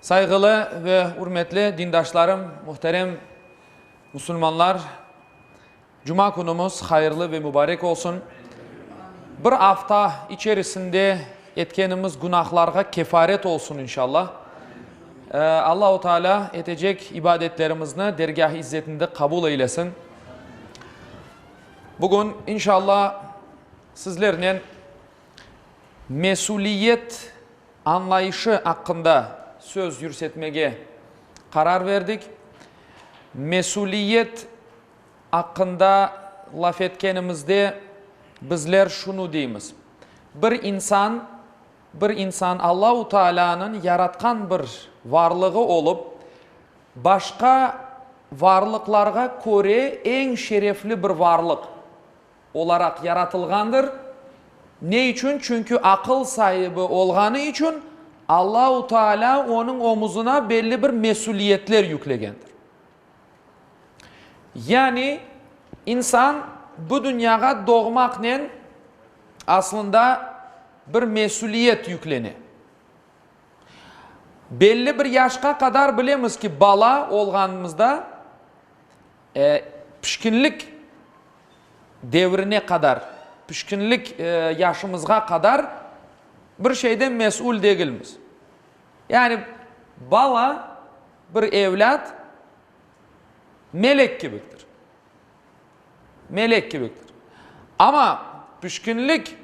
Sayğılı ve ürmetli dindaşlarım, muhterem musulmanlar, Cuma künümiz hayırlı ve mübarek olsun. Bir afta içerisinde etkenimiz günahlarğa kefaret olsun inşallah. Allahu Teala etecek ibadetlerimizni dergâh-ı izzetinde qabul eylesin. Bugün inşallah sizlernen Mesüliyet añlayışı aqqında söz yürsetmege qarar verdik. Mesüliyet aqqında laf etkenimizde bizler şunı deymiz, bir insan, bir insan Allahu Taalânıñ yaratqan bir varlığı olıp, başqa varlıqlarğa köre eñ şerefli bir varlıq. Olaraq yaratılğandır. Ne içün? Çünki aqıl saibi olğanı içün Allahu Taalâ onıñ omuzına belli bir mesüliyetler yüklegendir. Yani insan bu dünyağa doğmaqnen aslında bir mesüliyet yüklene. Belli bir yaşqa qadar bilemiz ki, bala olğanımızda, E, pişkinlik devrine qadar, pişkinlik yaşımızğa qadar bir şeyden mes'ul degilmiz. Yani bala, bir evlât melek kibiktir. Melek kibiktir. Amma pişkinlik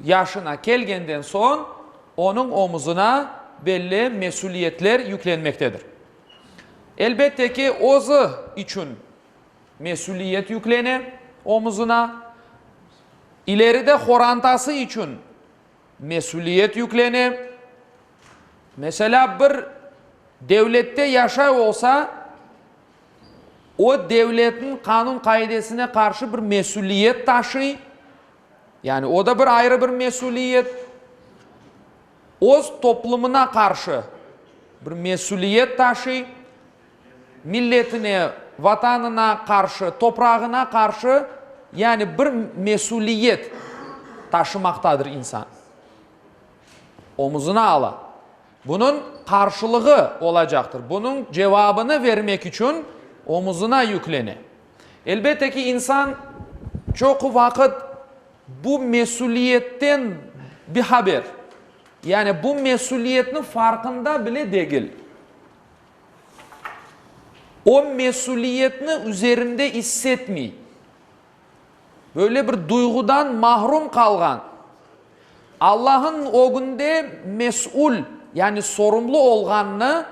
yaşına kelgenden soñ onıñ omuzına belli mes'uliyetler yüklenmektedir. Elbette ki, özü içün mesüliyet yüklene omuzına, ileride qorantası içün mesüliyet yüklene. Meselâ, bir devlette yaşay olsa, o devletniñ qanun-qaidesine qarşı bir mesüliyet taşıy, yani o da bir ayrı bir mesüliyet. Öz toplumına qarşı bir mesüliyet taşıy, milletine, Vatanına qarşı, toprağına qarşı, yani bir mesüliyet taşımaqtadır insan. Omuzına ala. Bunıñ qarşılığı olacaqtır. Bunıñ cevabını vermek içün omuzına yüklene. Elbette ki, insan çoqu vaqıt. Bu mesüliyetten bihaber, yani bu mesüliyetniñ farqında bile degil. O mesüliyetni üzerinde issetmey. Böyle bir duyğudan mahrum qalğan. Allahnıñ ögünde mesül, yani sorumlu olğanını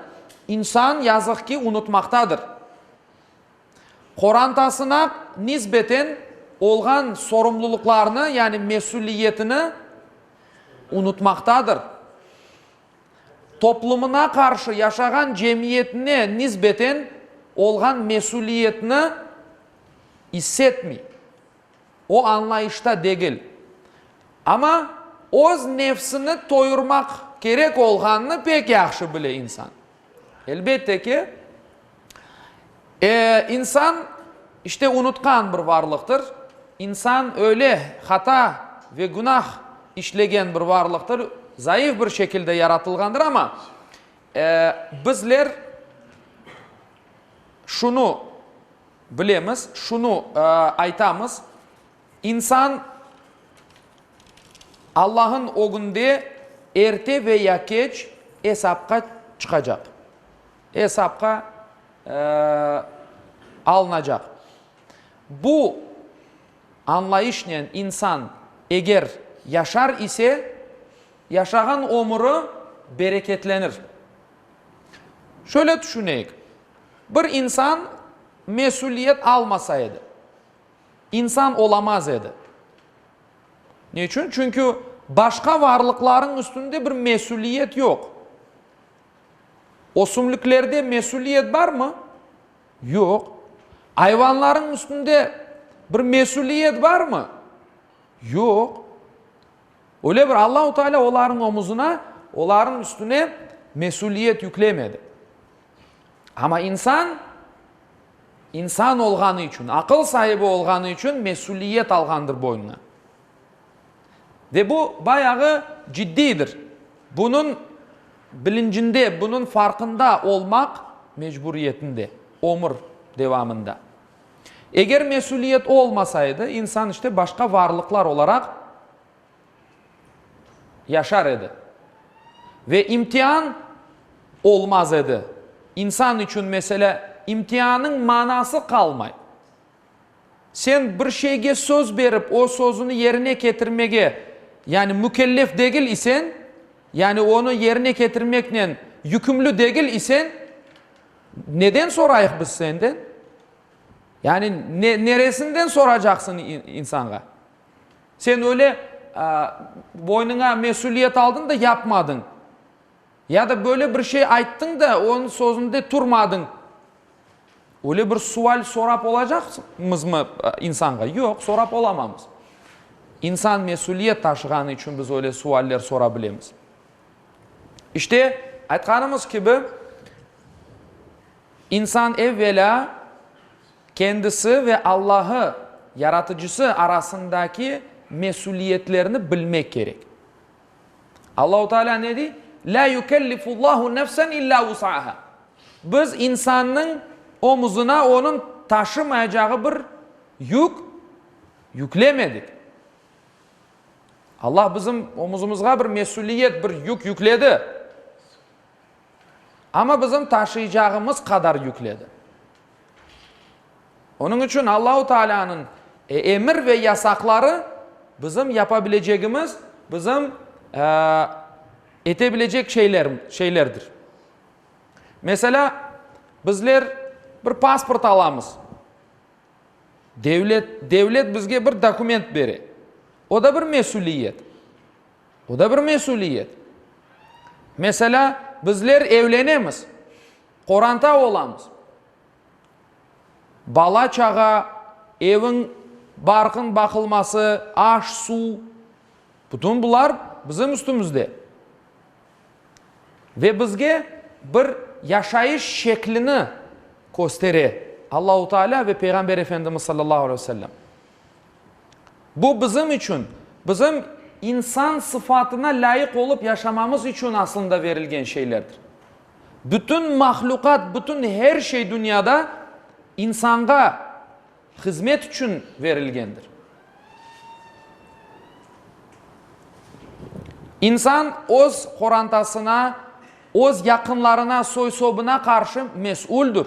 insan, yazıq ki, unutmaqtadır. qorantasına nisbeten olğan sorumluluqlarını, yani mesüliyetini unutmaqtadır, toplumına qarşı yaşağan cemiyetine nisbeten olğan mesüliyetini issetmiy, o añlayışta degil. Amma öz nefsini toyurmaq kerek olğanını pek yahşı bile insan. Elbette ki, insan, işte, unutqan bir varlıqtır. İnsan öyle hata ve günah işlegen bir varlıqtır, zayıf bir şekilde yaratılğandır, amma bizler şunı bilemiz, şunı aytamız, İnsan Allañın ögünde erte ve ya keç esapqa çıqacaq, esapqa alınacaq. Bu añlayışnen insan eger yaşar ise, yaşağan ömüri bereketlenir. Şöyle tüşüneyik, bir insan mesüliyet almasa edi. İnsan olamaz edi. Ne içün? Çünki başqa varlıqlarıñ üstünde bir mesüliyet yoq. Ösümliklerde mesüliyet barmı? Yoq. Ayvanlarıñ üstünde bir mesüliyet barmı? Yoq. Öyle bir Allahu Teala olarıñ omuzına, olarıñ üstüne mesüliyet yüklemedi. Amma insan, insan olğanı içün, aqıl saibi olğanı içün mesüliyet alğandır boynuna. Ve bu bayağı ciddiydir. Bunıñ bilincinde, bunıñ farqında olmaq mecburiyetinde, ömür devamında. Eger mesüliyet olmasa edi, insan işte başqa varlıqlar olaraq, yaşar edi ve imtian olmaz edi. İnsan içün, meselâ, imtiannıñ manası qalmay. Sen bir şeyge söz berip, o sözüni yerine ketirmege, yani mükellef degil isen, yani onı yerine ketirmeknen yükümlü degil isen, neden sorayıq biz senden? Yani neresinden soracaqsıñ insanğa? Sen öyle boynuna mesüliyet aldıñ da yapmadıñ. Ya da böyle bir şey ayttıñ da onıñ sözünde turmadıñ. Öyle bir sual sorap olacaqmızmı insanğa? Yoq, sorap olamamız. İnsan mesüliyet taşığanı içün biz öyle sualler sora bilemiz. İşte, aytqanımız kibi, insan evvelâ Kendisi ve Allahı, Yaratıcısı, arasındaki mesüliyetlerni bilmek kerek. Allahu Teala ne dey? La yükellifullahu nefsen illa vus'aha. Biz insannıñ omuzına onıñ taşımayacağı bir yük yüklemedik. Allah bizim omuzımızğa bir mesüliyet, bir yük yükledi. Amma bizim taşıycağımız qadar yükledi. Onıñ içün Allahu Taalâ'nıñ emir ve yasaqları bizim yapa bilecegimiz, bizim ete bilecek şeylerdir. Meselâ, bizler bir pasport alamız. Devlet, devlet bizge bir dokument bere. O da bir mesüliyet. Bu da bir mesüliyet. Meselâ, bizler evlenemiz, qoranta olamız. Bala-çağa, eviñ barqıñ baqılması, aş, suv, bütün bular bizim üstümizde. Ve bizge bir yaşayış şeklini köstere Allahu Teala ve Peyğamber Efendimiz sallallahu aleyhi ve sellem. Bu bizim içün, bizim insan sıfatına lâyıq olıp yaşamamız içün aslında verilgen şeylerdir. Bütün mahluqat, bütün her şey dünyada insanğa hızmet içün verilgendir. İnsan öz qorantasına, öz yaqınlarına, soy-sobına qarşı mes'uldir.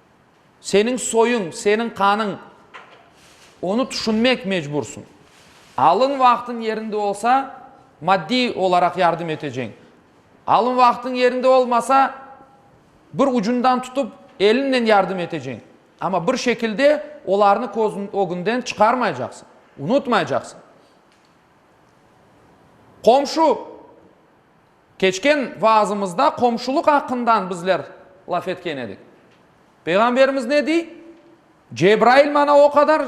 Seniñ soyuñ, seniñ qanıñ. Onı tüşünmek mecbursıñ. Alın vaqtıñ yerinde olsa, maddiy olaraq yardım eteceñ. Alın vaqtıñ yerinde olmasa, bir ucundan tutıp, eliñnen yardım eteceñ. Amma bir şekilde olarnı közüñ ögünden çıqarmaycaqsıñ, unutmaycaqsıñ. Qomşu, Keçken vaazımızda qomşulıq aqqından bizler laf etken edik. Peyğamberimiz ne dey? Cebrail maña o qadar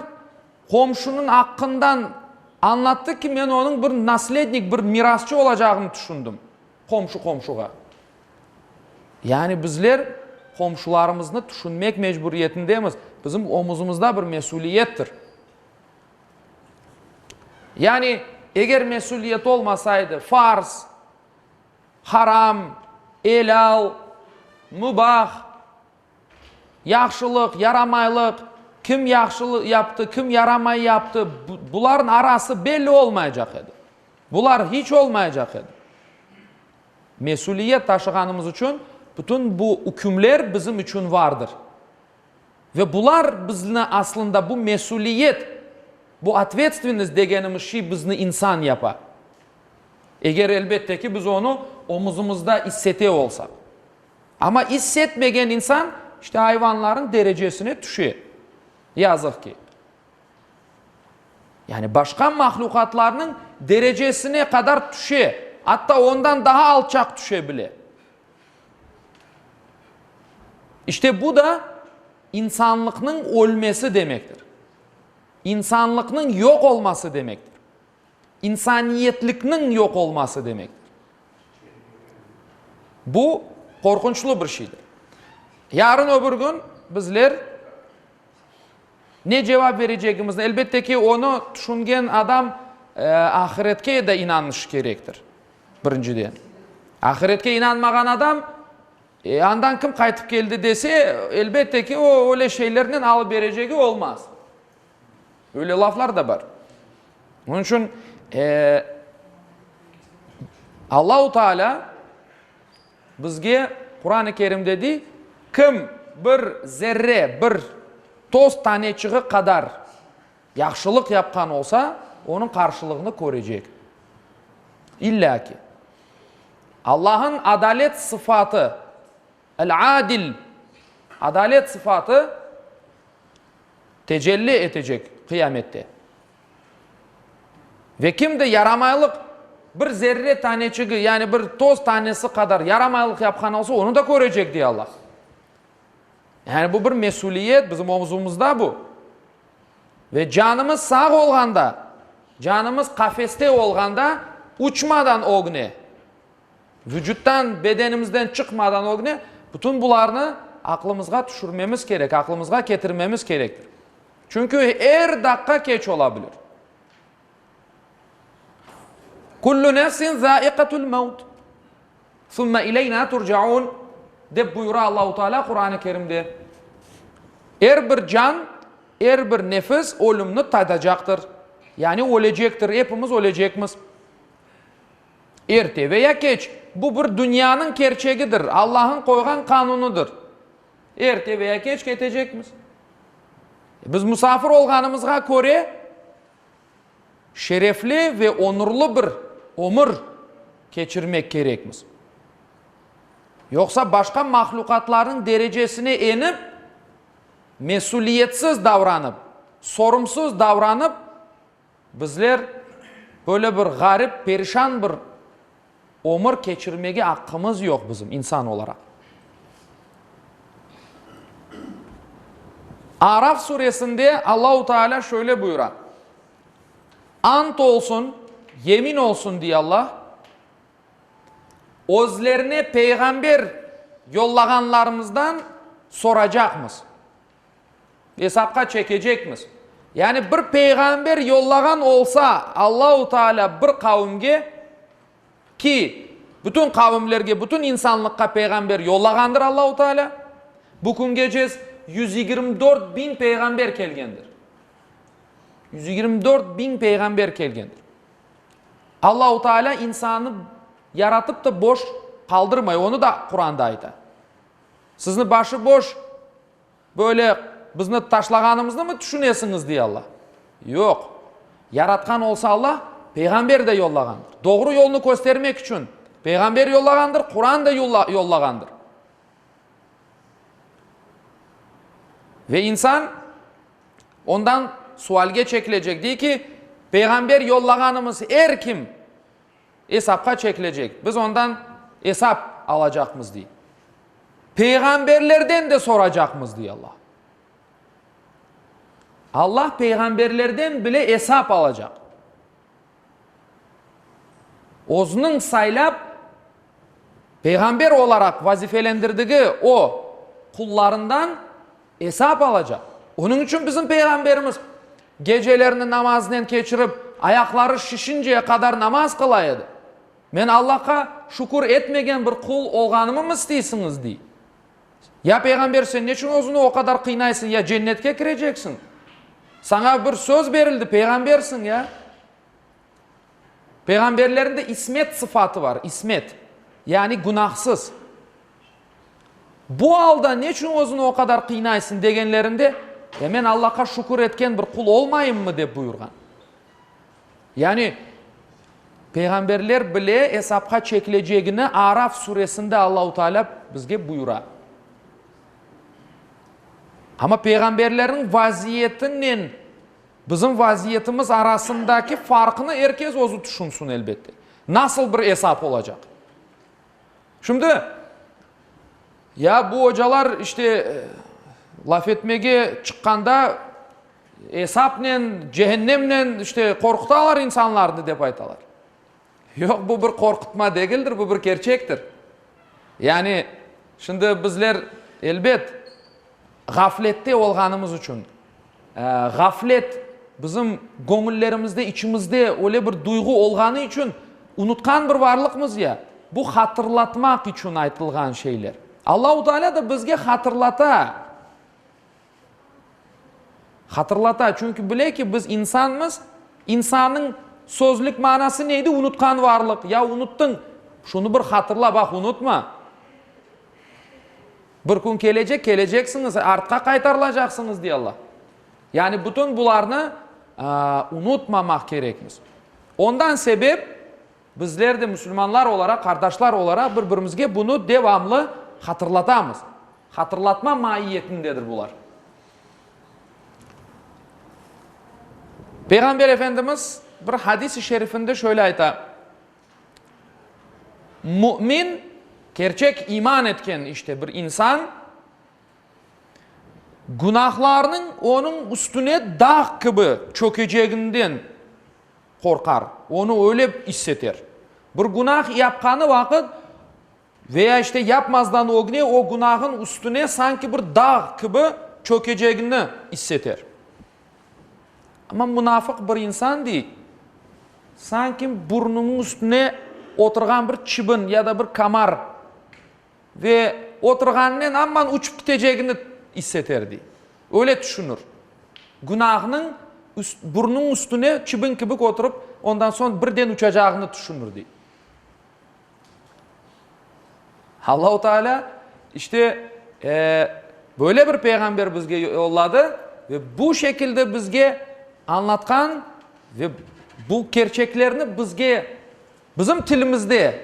qomşunıñ aqqından añlattı ki, men onıñ bir naslednik, bir mirasçı olacağını tüşündim. Qomşu qomşuğa. Yani bizler qomşularımıznı tüşünmek mecburiyetindemiz. Bizim omuzımızda bir mesüliyettir. Yani, eger mesüliyet olmasaydı, farz, haram, elâl, mübah, yahşılıq, yaramaylıq, kim yahşı yaptı, kim yaramay yaptı, bularnıñ arası belli olmaycaq edi. Bular hiç olmaycaq edi. Mesüliyet taşığanımız içün bütün bu ükümler bizim içün vardır. Ve bular bizni aslında bu mesüliyet, bu otvetstvennost degenimiz şey bizni insan yapa. Eger elbette ki, biz onı omuzımızda issete olsaq. Amma issetmegen insan işte ayvanlarnıñ derecesine tüşe, yazıq ki. Yani başqa mahlukatlarnıñ derecesine qadar tüşe, atta ondan daha alçaq tüşe bile. İşte bu da insanlıqnıñ ölmesi demektir. İnsanlıqnıñ yoq olması demektir. İnsaniyetlikniñ yoq olması demektir. Bu qorqunçlı bir şeydir. Yarın öbür gün bizler ne cevap verecegimizni, elbette ki, onı tüşüngen adam ahiretke de inanışı kerektir. Birinciden, ahiretke inanmağan adam, e, andan kim qaytıp keldi dese, elbette ki, o, öyle şeylernen alıberecegi olmaz. Öyle laflar da bar. Onun için e, Allahu Teala bizge Kur'an-ı Kerim'de dey, kim bir zerre, bir toz taneçiği kadar Yahşılıq yapqan olsa, onıñ qarşılığını körecek. İlla ki. Allah'ın adalet sıfatı, El-Adil, adalet sıfatı tecelli etecek Qıyamette. Ve kim de yaramaylıq bir zerre taneçigi, yani bir toz tanesi qadar yaramaylıq yapqan olsa, onı da körecek, dey Allah. Yani bu bir mesüliyet bizim omzumızda bu. Ve canımız sağ olğanda, canımız qafeste olğanda uçmadan ögne, vucuttan, bedenimizden çıqmadan ögne bütün bularnı aqlımızğa tüşürmemiz kerek, aqlımızğa ketirmemiz kerektir. Çünki er daqqa keç ola bilir. Kullu nefsin zâiqatul mevt, summe ileynâ turcaûn, dep buyura Allahu Teâlâ Quran-ı Kerimde. Er bir can, er bir nefis ölümni tadacaqtır, yani ölecektir, epimiz ölecekmiz. Erte veya keç, bu bir dünyanıñ kerçegidir, Allah'ıñ qoyğan qanunıdır. Erte veya keç ketecekmiz. Biz musafir olğanımızğa köre, Şerefli ve onurlı bir ömür keçirmek kerekmiz. Yoqsa başqa mahluqatlarnıñ derecesine enip, mesüliyetsiz davranıp, sorumsuz davranıp, bizler böyle bir ğarip, perişan bir Ömür keçirmege aqqımız yoq bizim, insan olaraq. Araf suresinde Allahu Teala şöyle buyura, Ant olsun, yemin olsun, diye Allah, özlerine peyğamber yollağanlarımızdan soracaqmız. Esapqa çekecekmiz. Yani bir peyğamber yollağan olsa Allahu Teala bir qavimge, ki bütün qavimlerge, bütün insanlıqqa peyğamber yollağandır Allahu Teala, bu küngecez yüz yigirmi dört biñ peyğamber kelgendir. Yüz yigirmi dört biñ peyğamber kelgendir. Allahu Teala insannı yaratıp da boş qaldırmay, onı da Quranda ayta. Sizni başı boş, böyle bizni taşlağanımıznımı tüşünesiñiz? dey Alla. Yoq. Yaratqan olsa Alla, peyğamber de yollağandır. Doğru yolnı köstermek içün peyğamber yollağandır, Quran da yollağandır. Ve insan ondan sualge çekilecek, dey ki, peyğamber yollağanımız er kim, Esapqa çekilecek, biz ondan esap alacaqmız, dey. Peyğamberlerden de soracaqmız, dey Alla. Alla peyğamberlerden bile esap alacaq. Özüniñ saylap, peyğamber olaraq vazifelendirdigi o qullarından Esap alacaq. Onıñ içün bizim Peyğamberimiz gecelerini namaznen keçirip, ayaqları şişinceye qadar namaz qıla edi. Men Allahqa şükür etmegen bir qul olğanımım isteysiñiz? dey. Ya Peyğamber, sen neçün özüni o qadar qıynaysıñ? Ya Cennetke kireceksiñ? Saña bir söz berildi, Peyğambersiñ, ya? Peyğamberlerinde ismet sıfatı var, ismet, yani günahsız. Bu alda ne içün özüni o qadar qıynaysıñ degenlerinde, e men Allahqa şükür etken bir qul olmayımmı dep buyurğan. Yani Peyğamberler bile esapqa çekilecegini Araf suresinde Allahu Teala bizge buyura. Ama peyğamberlerniñ vaziyetinen Bizim vaziyetimiz arasındaki farqnı er kes özü tüşünsin, elbette. Nasıl bir esap olacaq? Şimdi, ya bu ocalar işte laf etmege çıqqanda esapnen, cehennemnen işte qorqutalar insanlarnı dep aytalar. Yoq, bu bir qorqutma degildir, bu bir kerçektir. Yani, şimdi bizler, elbet, ğaflette olğanımız içün, ğaflet bizim göñüllerimizde, içimizde öyle bir duyğu olğanı içün unutqan bir varlıqmız ya, bu hatırlatmaq içün aytılğan şeyler. Allahu Teala da bizge hatırlata. Hatırlata, çünki bile ki, biz insanmız, insannıñ sözlük manası neydi? Unutqan varlıq, ya unuttıñ, şunı bir hatırla, baq, unutma. Bir kün kelecek, keleceksiñiz, artqa qaytarılacaqsıñız, dey Alla. Yani bütün bularnı unutmamaq kerekmiz. Ondan sebep, Bizler de musulmanlar olaraq, qardaşlar olaraq bir-birimizge bunı devamlı hatırlatamız. Hatırlatma maiyetindedir bular. Peyğamber Efendimiz bir hadis-i şerifinde şöyle ayta, Mümin, kerçek iman etken işte bir insan, günahlarnıñ onıñ üstüne dağ kibi çökeceginden qorqar, onı öyle isseter. Bir günah yapqanı vaqıt ve ya işte yapmazdan ögne o günahın üstüne sanki bir dağ kibi çökecegini isseter. Amma munafıq bir insan dey, sanki burnunıñ üstüne oturğan bir çibin ya da bir kamar Ve oturğanınen amman uçıp kitecegini isseter, dey. Öyle tüşünir. Günâhnıñ burnunıñ üstüne çibin kibik oturıp, ondan soñ birden uçacağını tüşünir, dey. Allahu Teala işte böyle bir peyğamber bizge yolladı ve bu şekilde bizge añlatqan ve bu kerçeklerni bizge bizim tilimizde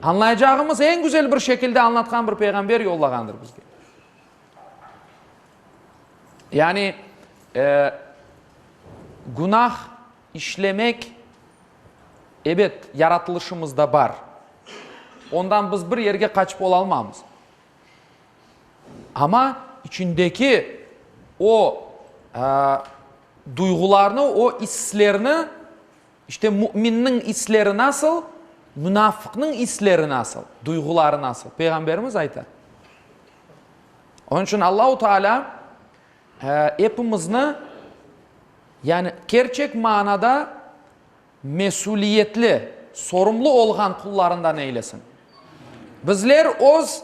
Añlayacağımız eñ güzel bir şekilde añlatqan bir peyğamber yollağandır bizge. Yani, günah işlemek, ebet, yaratılışımızda bar. Ondan biz bir yerge qaçıp olalmamız. Amma içindeki o duyğularnı, o islerni İşte müminniñ isleri nasıl, munafıqnıñ isleri nasıl, duyğuları nasıl? Peyğamberimiz ayta. Onıñ içün Allahu Teala epimizni, yani kerçek manada mesüliyetli, sorumlu olğan qullarından eylesin. Bizler öz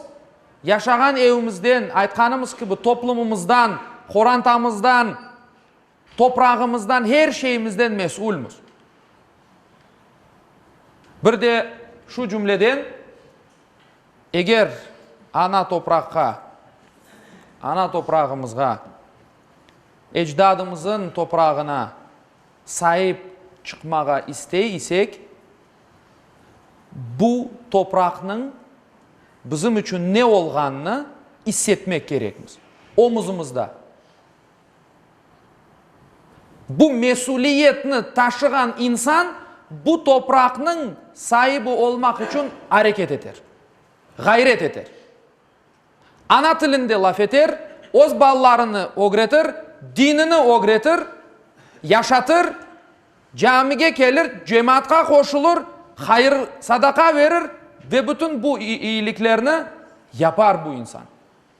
yaşağan evimizden, aytqanımız kibi, toplumımızdan, qorantamızdan, Toprağımızdan, her şeyimizden mesülmiz. Bir de şu cümleden, eger ana topraqqa, ana toprağımızğa, ecdadımızın toprağına saip çıqmağa istey isek, bu topraqnıñ bizim içün ne olğanını issetmek kerekmiz, omuzumızda. Bu mesüliyetni taşığan insan bu topraqnıñ saibi olmaq içün areket eter, ğayret eter. Ana tilinde laf eter, öz balalarını ögretir, dinini ögretir, yaşatır, camige kelir, cemaatqa qoşulır, hayır, sadaqa verir ve bütün bu iyiliklerni yapar bu insan.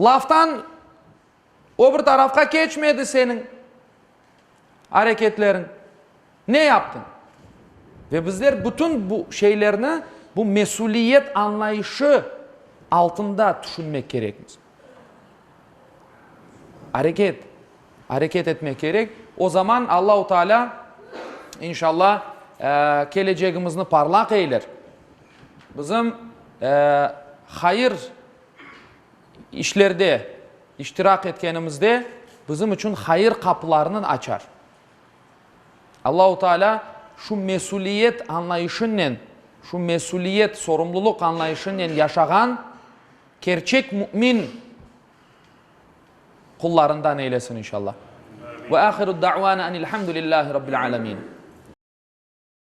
Laftan o bir tarafqa keçmedi seniñ areketleriñ. Ne yaptıñ? Ve bizler bütün bu şeylerni bu mesüliyet añlayışı altında tüşünmek kerekmiz. Areket, areket etmek kerek. O zaman Allahu Teala, inşallah, kelecegimizni parlaq eyler. Bizim hayır işlerde iştirak etkenimizde bizim içün hayır qapılarınen açar. Allahu Teala şu mesüliyet añlayışınen, şu mesüliyet, sorumluluq añlayışınen yaşağan kerçek mümin qullarından eylesin inşallah. Ve ahiru da'vana enilhamdülillahi Rabbil alemin.